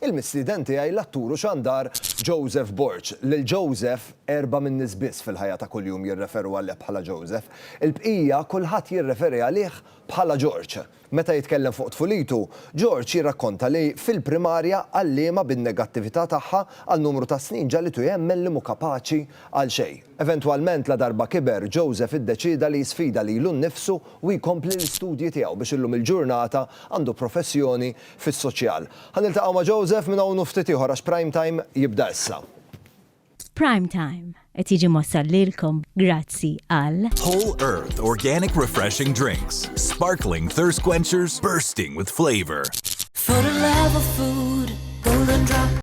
Il-mistieden tiegħi l-attur u xandar Joseph Borg. Lil Joseph erba' min-nies biss fil-ħajja ta' kuljum jirreferu għalih bħala Joseph. Il-bqija kulħadd jirreferi għalih bħala Georg. Meta jitkellem fuq tfulitu, Georg jirrakkonta li fil-primarja għalliema bin-negattività tagħha għal numru ta' snin ġagħlitu jemmen li mhu kapaċi għal xejn. Eventwalment, ladarba kiber, Joseph iddeċieda li jisfida lilu nnifsu u jkompli l-istudji tiegħu biex illum il-ġurnata għandu professjoni fis-soċjal. Ħa niltaqgħu ma' Joseph minn hawn u ftit ieħor għax Prime Time jibda issa. Prime Time qed jiġi mwassal lilkom grazzi għal. Whole Earth Organic Refreshing Drinks, Sparkling Thirst Quenchers Bursting With Flavour. For the love of food, Golden Drop.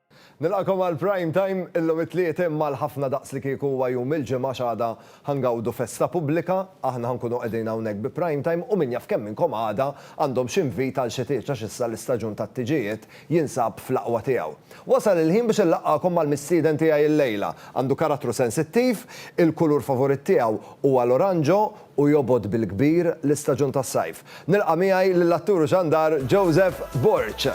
Nilqakom għal Prime Time, illum it-Tliet imma għal ħafna daqs li kieku huwa jum il-Ġimgħa għax għada ħa ngawdu festa pubblika, aħna ħa nkunu qegħdin hawnhekk bi Prime Time u min jaf kemm minnkom għada għandhom x'invit għal xi tieġ għax issa l-istaġun tat-tiġijiet jinsab fl-aqwa tiegħu. Wasal il-ħin biex inlaqqagħkom mal-mistieden tiegħi illejla. Għandu karattru sensittiv, il-kulur favoritt tiegħu huwa l-oranġo u jobgħod bil-kbir l-istaġun tas-sajf. Nilqa' miegħi lill-attur u xandar Joseph Borg.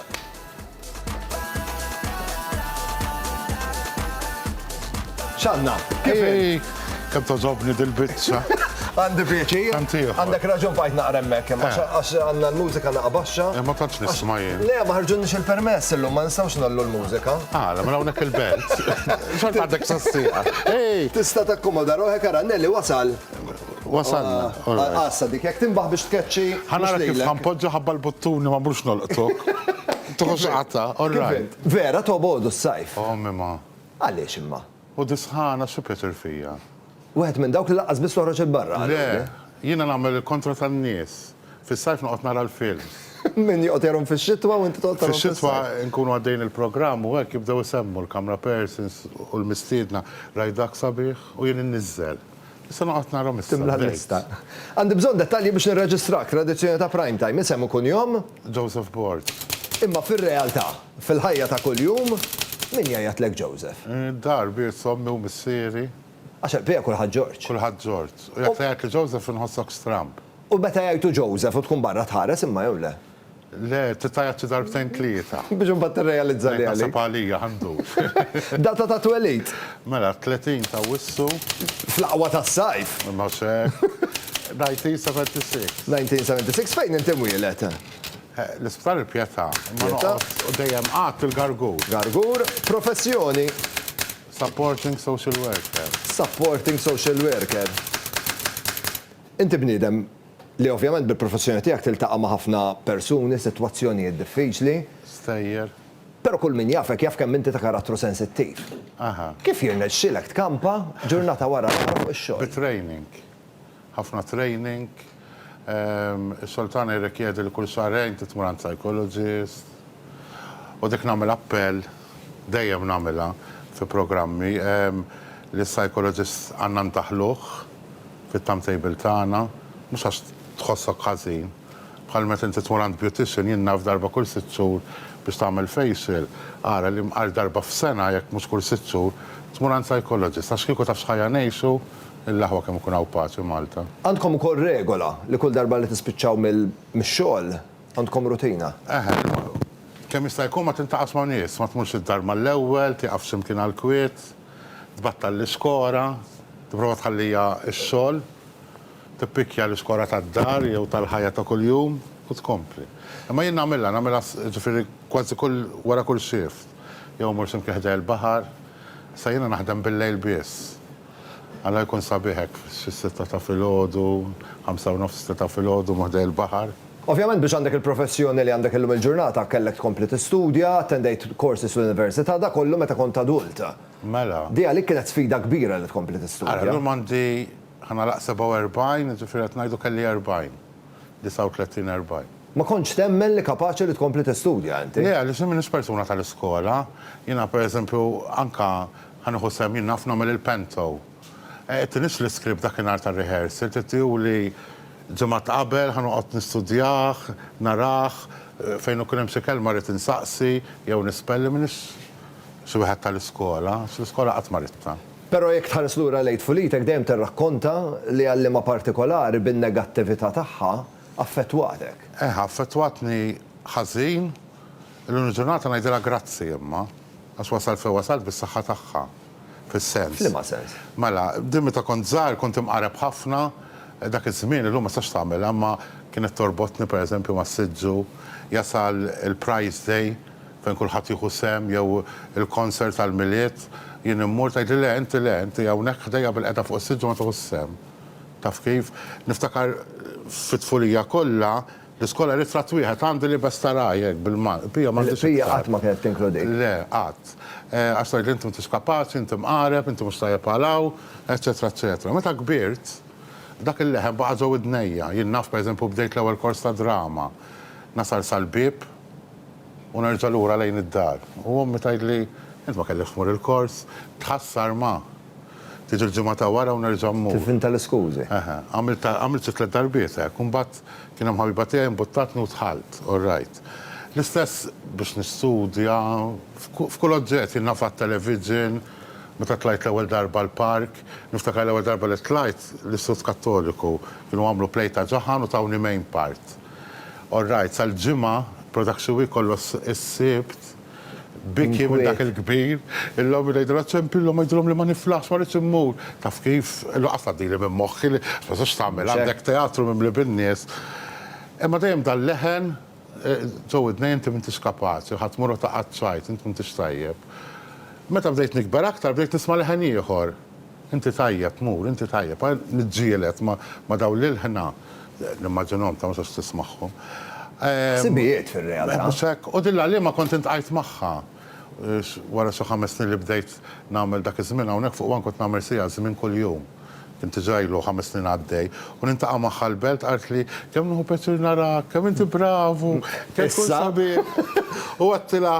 X'għandna? Kif inhi? Kemm togħġobni dil-biċċa. Għandi pjaċir. Għandek raġun bqajt naqra hemmhekk, eh. għax għandna l-mużika naqra baxxa. Eh, ma tantx nisma' jien. Le, ma ħarġunniex il-permess illum, ma nistgħux nagħllu l-mużika. Ah, ma hawnhekk il-belt. X'għad għandek sassieqa. Tista' takkomoda ruħek ara Nelli wasal. Wasalna. Assa dik jekk tinbaħ biex tkeċċi. Ħanara kif ħanpoġġa ħabba l-buttuni ma mhux nolqtok. Toħos qatta, all right. Vera tobgħodu s-sajf. Oh mima. Għaliex imma? U dis-sħana xi pjaċir fija? Wieħed minn dawk li laqqas biss toħroġ il-barra. Le, jiena nagħmel il-kontra tan-nies. Fis-sajf noqgħod nara l-films. Min joqgħod jarhom fix-xitwa u inti toqgħod tarhom fis-sajf. Fix-xitwa nkunu għaddejjin il-programm u hekk jibdew isemmu l-camera persons u l-mistiedna rajt dak sabiħ u jien inniżżel. Nista' noqgħod narhom issa. Timla l-lista. Għandi bżonn dettalji biex nirreġistrak, tradizzjoni ta' prime time, isem u kunjom? Joseph Borg. Imma fir-realtà, fil-ħajja ta' kuljum, min jgħajjatlek Joseph? Id-dar, biss ommi u missieri. Għax għall-bqija kulħadd George. Kulħadd George. U jekk tgħajjatli Joseph inħossok stramb. U meta jgħajtu Joseph u tkun barra tħares imma jew le? Le, tista' jgħid xi darbtejn tlieta. Biex imbagħad tirrealizza li għalik. Naħseb għalija ħa ndur. Data ta' twelid? Mela, 30 ta' Awwissu. Fl-aqwa tas-sajf! Mhux hekk. 1976. 1976. Fejn inti mwieled? L-Isptar il-Pietà. Imma noqgħod u dejjem qgħadt fil-Gargur. Gargur. Professjoni? Supporting social worker. Supporting social worker. Inti bniedem Li ovvjament bil-professjoni tiegħek tiltaqa' ma' ħafna persuni, sitwazzjonijiet diffiċli. Stejjer. Però kull min jafek jaf kemm inti ta' karattru sensittiv. Aha. Kif jirnexxilek tkampa ġurnata wara l-oħra fuq ix-xogħol? Bi training. Ħafna training. Is-Sultana jirrikjedi li kull xahrejn trid tmur għand psychologist. U dik nagħmel appell. Dejjem nagħmilha fi programmi. Lis-psychologist għandna ndaħħluh fit-timetable tagħna, mhux għax tħossok ħażin. Bħal meta inti tmur għand beautician, jien naf darba kull sitt xhur biex tagħmel facial, ara li għal darba f'sena, jekk mhux kull sitt xhur, tmur għand psychologist. Għax kieku taf x'ħajja ngħixu l-aħwa kemm ikun hawn paċi Malta. Għandkom ukoll regola li kull darba li tispiċċaw mix-xogħol, Għandkom rutina? Eħe, imorru. Kemm jista' jkun ma tiltaqax ma' nies, ma tmurx id-dar mal-ewwel, tieqaf x'imkien għall-kwiet, tbattal l-iskora, tipprova tħalliha x-xogħol, tippikkja l-iskora tad-dar jew tal-ħajja ta' kuljum u tkompli. Imma jien nagħmilha, nagħmilha jiġifieri kważi kull wara kull shift. Jew immur x'imkien ħdejja l-baħar. Issa jiena naħdem bil-lejl biss. Alla jkun sabiħ hekk xi sitta ta' filgħodu, ħamsa u nofs sitta ta' filgħodu ma' ħdej il-baħar. Ovvjament biex għandek il-professjoni li għandek illum il-ġurnata kellek tkompli tistudja, attendejt courses fl-università, dak kollu meta kont adult. Mela. Di għalik kienet sfida kbira li tkompli tistudja. Ara, llum għandi, ħa nagħlaq 47, jiġifieri qed ngħidu kelli 40, 39, 40. Ma kontx temmen li kapaċi li tkompli tistudja inti? Le, għaliex jien m'iniex persuna tal-iskola. Jiena pereżempju anke Ħa nieħu sehem jien naf nagħmel il-panto. Għedtinix l-iskript dakinhar tar-rehearsal, tittihuli ġimgħat qabel, ħa noqgħod nistudjah, narah, fejn ikun hemm xi kelma rrid insaqsi jew nispelli, m'iniex xi wieħed tal-iskola, għax l-iskola qatt ma ridtha. Però jekk tħares lura lejn tfulitek dejjem tirrakkonta li għal liema partikolari bin-negattività tagħha affettwatek. Eħe, affettwatni ħażin. Illum il-ġurnata ngħidilha grazzi imma. Għax wasalt fejn wasalt bis-saħħa tagħha. Fis-sens. F'liema sens? Mela, din meta kont żgħir kont imqareb ħafna, dak iż-żmien, illum ma tistax tagħmilha, imma kienet torbotni pereżempju mas-siġġu, jasal il-prize day fejn kulħadd jieħu sehem jew il-concert tal-Milied, jien immur tgħidli le, inti le, inti hawnhekk ħdejja bilqiegħda fuq is-siġġu ma tieħux sehem. Taf kif? Niftakar fit-tfulija kollha, L-iskola ritratt wieħed għandu libes ta' ragħaj hekk bil-Malti. Pia m'għandix iktar. Pia qatt ma kienet tinkludik. Le, qatt. Għax tgħidli inti m'intix kapaċi, inti mqareb, inti mhux tajjeb għal hawn, eċċetera eċċetera. Meta kbirt, dak il-leħen baqa' ġo widnejja. Jien naf pereżempju bdejt l-ewwel kors ta' drama. Nasal sal-bieb u nerġa' lura lejn id-dar. U ommi tgħidli, Int ma kellekx tmur il-kors? Tħassar ma! Tiġi l-ġimgħa ta' wara u nerġa' mmur. Tivvinta l-iskużi. Eħe. Għamilt għamilt xi tliet darbiet hekk. U mbagħad kien hemm ħabiba tiegħi mbuttatni u dħalt. All right. L-istess biex nistudja, f'ku f'kull oġġett. Jien naf għat-television, meta tlajt l-ewwel darba l-park. Niftakar l-ewwel darba li tlajt l-Istitut Kattoliku. Kienu għamlu play ta' ġaħan u tawni main part. All right, sal-Ġimgħa, production week kollu s-Sibt. Biki minn dak il-kbir, illum irid ngħid sempi illum ngħidilhom li ma niflaħx ma rridx immur. Taf kif? Lanqas tgħaddili minn moħħi li ma tistax tagħmel għandek teatru mimli bin-nies. Imma dejjem dan leħen ġo widnejja inti m'intix kapaċi, ħa tmur u taqgħad tgħajt, int m'intix tajjeb. Meta bdejt nikber aktar bdejt nisma' leħen ieħor. Inti tajjeb, mur, inti tajjeb. Ara niġġieled ma' dawn l-ilħna, nimmaġinhom, ta' ma sax tismagħhom. Ħsibijiet fir-realtà. Mhux hekk? U din l-għalliema kont intqajt magħha wara xi ħames snin li bdejt nagħmel dak iż-żmien hawnhekk fuq one kont nagħmel siegħa żmien kuljum. Kien diġà ilu ħames snin għaddej. U niltaqa' magħha l-belt qaltli, kemm nieħu pjaċir narak, kemm inti bravu, kemm tkun sabiħ. U għedtilha,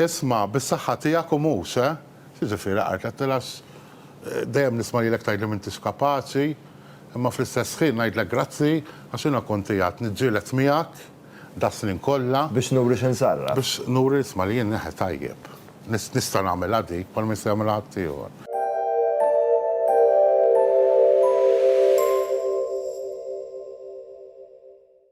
isma', bis-saħħa tiegħek u mhux, eh? Siġa f'Ira qalt, Għattel għax dejjem nisma' lilek tgħidli m'intix kapaċi, imma fl-istess ħin ngħidlek grazzi għax jiena kont qiegħed niġġieled miegħek das-snin kollha. Biex nuri xi nsarraf. Biex nuri isma' li jien neħe tajjeb. Nista' nagħmilha dik bħalma jista' jagħmilha ħaddieħor.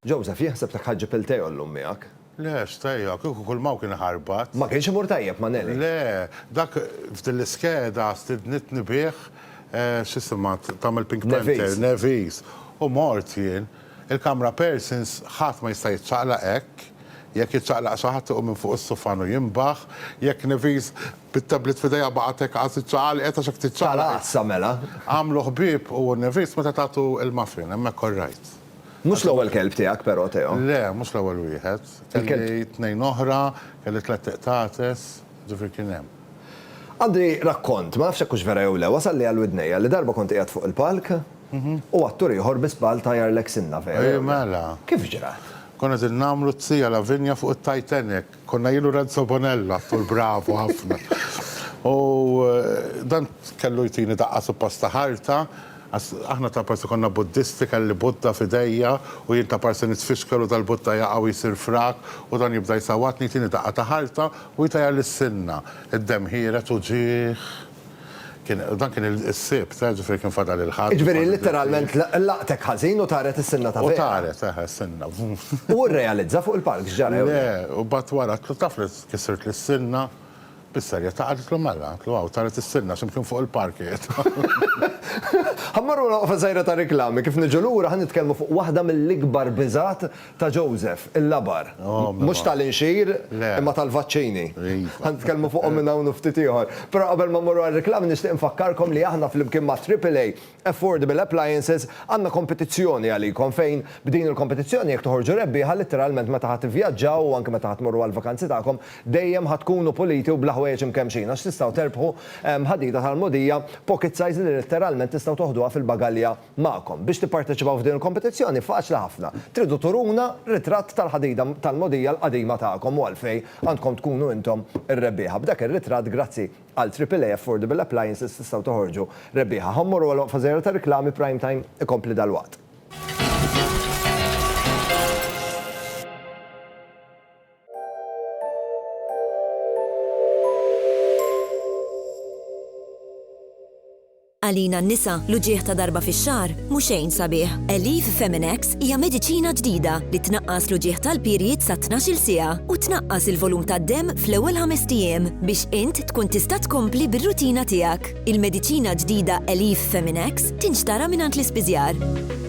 Joseph, Jien ħsebtek ħa ġġib il-tè oll-lum miegħek. Le, x'tè, kieku kull ma hu kien ħarbat. Ma kienx imur tajjeb ma' Nellie? Le, dak f'din l-iskeda stidnitni bih, x'isimha tagħmel Pink Panther, Nevis, u mort jien. Il-kamra persons ħadd ma jista' jiċċaqlaq hekk, jekk jiċċaqlaq xi ħadd iqum minn fuq is-sufan u jinbaħ, jekk Nevis bit-tablet f'idejha baqgħet hekk qas iċċaqalqet għax hekk tiċċaqlaq. Tal-għassa mela. Għamlu ħbieb hu u Nevis meta tagħtu il-muffin, hemmhekk orrajt. Mhux l-ewwel kelb tiegħek però, Teo. Le, mhux l-ewwel wieħed. Kelli tnejn oħra, kelli tlett iqtates, ġifieri kien hemm. Għandi rakkont, ma nafx jekk hux vera jew le, wasalli għal widnejja li darba kont qiegħed fuq il-palk u attur ieħor bi żball tajjar Lexinna, vera jew le? Kif ġra? Konna qegħdin nagħmlu t-Tzija Lavinia fuq it-Titanic. Konna jien u Renzo Bonella f'Tul Bravo ħafna. U dan kellu jtini daqqa suppost ta' ħarta, għax aħna ta' parsi konna Buddisti, kelli Buddha f'idejja u jien ta' parsi nitfixkel u dal-Buddha jaqa' u jsir frak u dan jibda jsawwatni, jtini daqqa ta' ħarta u jtajjarli s-sinna. Id-demm ħiered uġigħ. Dan kien is-Sibt, eh, ġifieri kien fadal il-Ħadd. Jiġifieri litteralment laqtek ħażin u taret is-sinna ta' vera. U taret, eh, is-sinna. U rrealizza fuq il-palk x'ġara. Le, u mbagħad wara qed taf li kisirtli li s-sinna. Bis-serjetà qaltlu mela, qaltlu hawn taret is-sinna x'imkien fuq il-palk qiegħed. Ħa mmorru għal waqfa żgħira ta' riklami, kif niġu lura ħa nitkellmu fuq waħda mill-ikbar biżgħat ta' Joseph, il-labar. Mhux tal-inxir, imma tal-vaċċini. Ħa nitkellmu fuqhom minn hawn u ftit ieħor. Però qabel ma mmorru għar-riklami nixtieq infakkarkom li aħna flimkien ma' Triple A Affordable Appliances għandna kompetizzjoni għalikom fejn b'din il-kompetizzjoni jekk toħorġu rebbieħa litteralment meta ħa tivvjaġġaw u anke meta ħa tmorru għall-vakanzi tagħkom dejjem ħa tkunu puliti u bla ħwejjeġ imkemmxin għax tistgħu terbħu ħadida tal-mogħdija pocket size li litteralment tistgħu toħduha fil-bagalja magħkom. Biex tipparteċipaw f'din il-kompetizzjoni faċli ħafna. Tridu turuna ritratt tal-ħadida tal-mogħdija l-qadima tagħkom u għalfejn għandkom tkunu intom ir-rebbieħa. B'dak ir-ritratt grazzi għal AAA Affordable Appliances tistgħu toħorġu rebbieħa. Ħa mmorru għal waqfa żgħira tar-riklami Prime Time ikompli dalwaqt. Għalina n-nisa, l-uġigħ ta' darba fix-xahar mhu xejn sabiħ. Aleve Feminex hija mediċina ġdida li tnaqqas l-uġigħ tal-period sa tnax-il siegħa u tnaqqas il-volum tad-demm fl-ewwel ħamest ijiem biex int tkun tista' tkompli bir-rutina tiegħek. Il-mediċina ġdida Aleve Feminex tinxtara mingħand l-ispiżjar.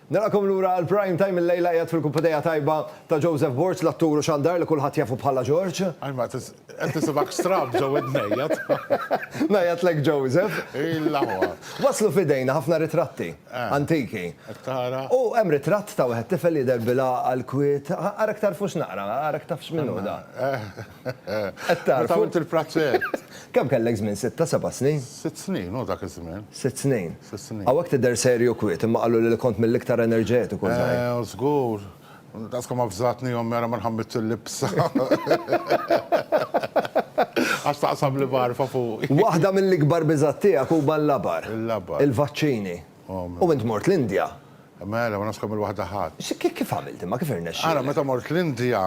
Nilqakom lura għal Prime Time illejla qiegħed fil-kumpadija tajba ta' Joseph Borg l-attur u xandar li kulħadd jafu bħala George. Ajma qed nisimgħek stramb ġo widnejja. Ngħajjatlek Joseph. Illa huwa. Waslu f'idejna ħafna ritratti antiki. Qed tara. U hemm ritratt ta' wieħed tifel jidher bil-għaqal kwiet. Ara ktarfux naqra, ara ktafx min hu dan. Meta għamilt il-prazzett. Kemm kellek żmien, sitta, seba' snin? Sitt snin hu dak iż-żmien. Sitt snin. Sitt snin. Hawnhekk tidher serju u kwiet, imma qaluli li kont mill-iktar enerġetiku żgħir. Eh, żgur. Daqs kemm avżatni ommi ara ma nħammitx il-libsa. Għax taqsam li magħrfa fuqi. Waħda mill-ikbar biżgħat tiegħek huma l-labar. Il-labar. Il-vaċċini. U int mort l-Indja. Mela, ma nafx kemm il-waħda ħadt. Kif għamilt imma, kif irnexxielek? Ara, meta mort l-Indja,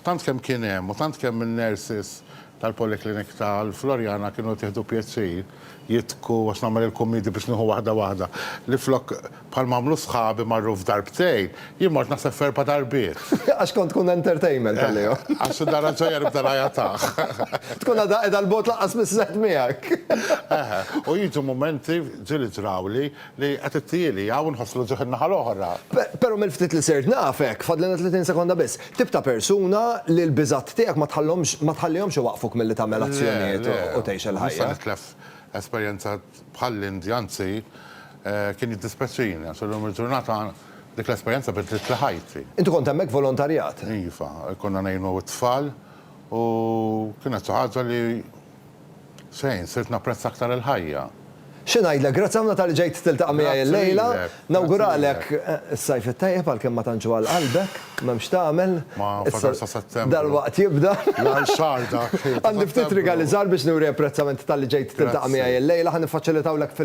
tant kemm kien hemm u tant kemm in-nurses tal-polyclinic tal-Floriana kienu qed jieħdu pjaċir jidħku għax nagħmel il-kummidi biex nieħu waħda waħda, li flok bħal ma għamlu sħabi marru f'darbtejn, jien mort naħseb f'erba' darbiet. Għax kont tkun entertainment għalihom. Għax id darha l-ġejja nibda ngħajatah. Tkun għadha qiegħda l-bogħod lanqas miż-żgħeżagħ miegħek. Eħe, u jiġu mumenti, ġieli ġrawli, Li qed ittieli hawn nħosslu ġieħ in-naħa l-oħra. Però mill-ftit li sirt nafek, fadlilna 30 sekonda biss, tip ta' persuna li l-biżgħat tiegħek ma tħallhomx ma tħallihomx iwaqqfuk milli tagħmel azzjonijiet u tgħix il-ħajja. Le, le. Nista' nitlef esperjenza bħall-Indja, anzi kien jiddispeċini għax illum il-ġurnata dik l-esperjenza biddlitli ħajti. Inti kont hemmhekk volontarjat? Iva, konna ngħinu t-tfal u kienet xi ħaġa li Shane, sirt napprezza aktar il-ħajja. Xi ngħidlek, grazzi ħafna talli ġejt tiltaqa' miegħi llejla. Nawguralek is-Sajf it-tajjeb għalkemm ma tantx hu għal qalbek, m'hemm x'tagħmel. Ma fadal sa Settembru. Dalwaqt jibda. L-aħħar xahar dak ta' Settembru. Għandi ftit rigali żgħar biex nuri apprezzament talli ġejt tiltaqa' miegħi llejla. Ħa niffaċilitawlek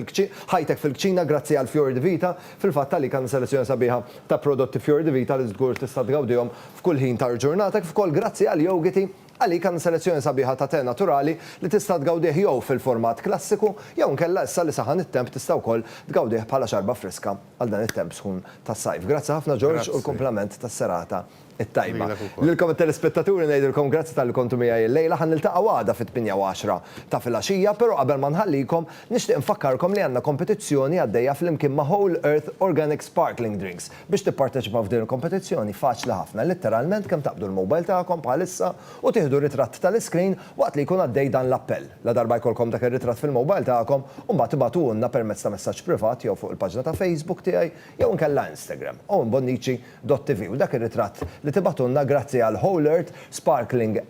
ħajtek fil-kċina grazzi għal Fior di Vita. Fil-fatt għalik għandna selezzjoni sabiħa ta' prodotti Fior di Vita li żgur tista' tgawdihom f'kull ħin tal-ġurnata kif ukoll grazzi għal jogiti Għalik għandna selezzjoni sabiħa ta' te naturali li tista' tgawdih jew fil-format klassiku jew inkella issa li saħan it-temp tista' wkoll tgawdih bħala xarba friska għal dan it-temp sħun tas-sajf. Grazzi ħafna George u l-kumplament tas-serata t-tajba. Lilkom it-telespettaturi ngħidilkom grazzi talli kontu miegħi l-lejla. Ħa niltaqgħu għada fit-tmienja u għaxra ta' filgħaxija, però qabel ma nħallikom nixtieq nfakkarkom li għandna kompetizzjoni għaddejja flimkien ma' Whole Earth Organic Sparkling Drinks. Biex tipparteċipaw f'din il-kompetizzjoni faċli ħafna, litteralment kemm taqbdu l-mobile tagħkom bħalissa u tieħdu ritratt tal-iscreen waqt li jkun għaddej dan l-appell. Ladarba jkollkom dak ir-ritratt fil-mobile tagħkom, imbagħad ibagħtuhulna permezz ta' messaġġ privat jew fuq il-paġna ta' Facebook tiegħi jew inkella Instagram, owenbonnici.tv u dak ir-ritratt li tibagħtulna grazzi għal Whole-Earth Sparkling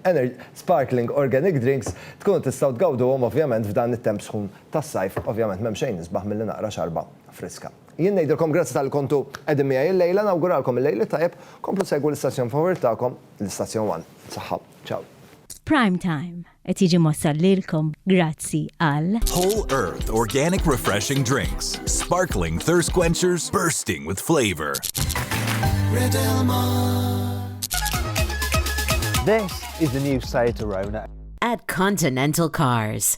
Sparkling Organic Drinks tkunu tistgħu tgawduhom ovvjament f'dan it-temp sħun tas-sajf, ovvjament m'hemm xejn isbaħ milli naqra xarba friska. Jien ngħidilkom grazzi talli kontu qegħdin miegħi illejla, nawguralkom il-lejl it-tajjeb, komplu segwu l-istazzjon favorita tagħkom, l-istazzjon one. Saħħa. Ciao. Prime Time qed jiġi mwassal lilkom grazzi għal. Whole Earth Organic Refreshing Drinks, Sparkling Thirst Quenchers Bursting with Flavor. This is the new Seat Arona. At Continental Cars.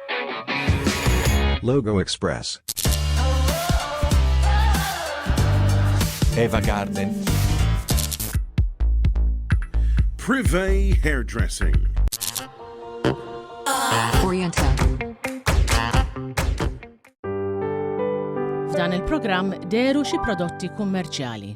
Logo Express. Eva Garden. Privé Hairdressing. Oriental. F'dan il-programm deru xi prodotti kummerċjali.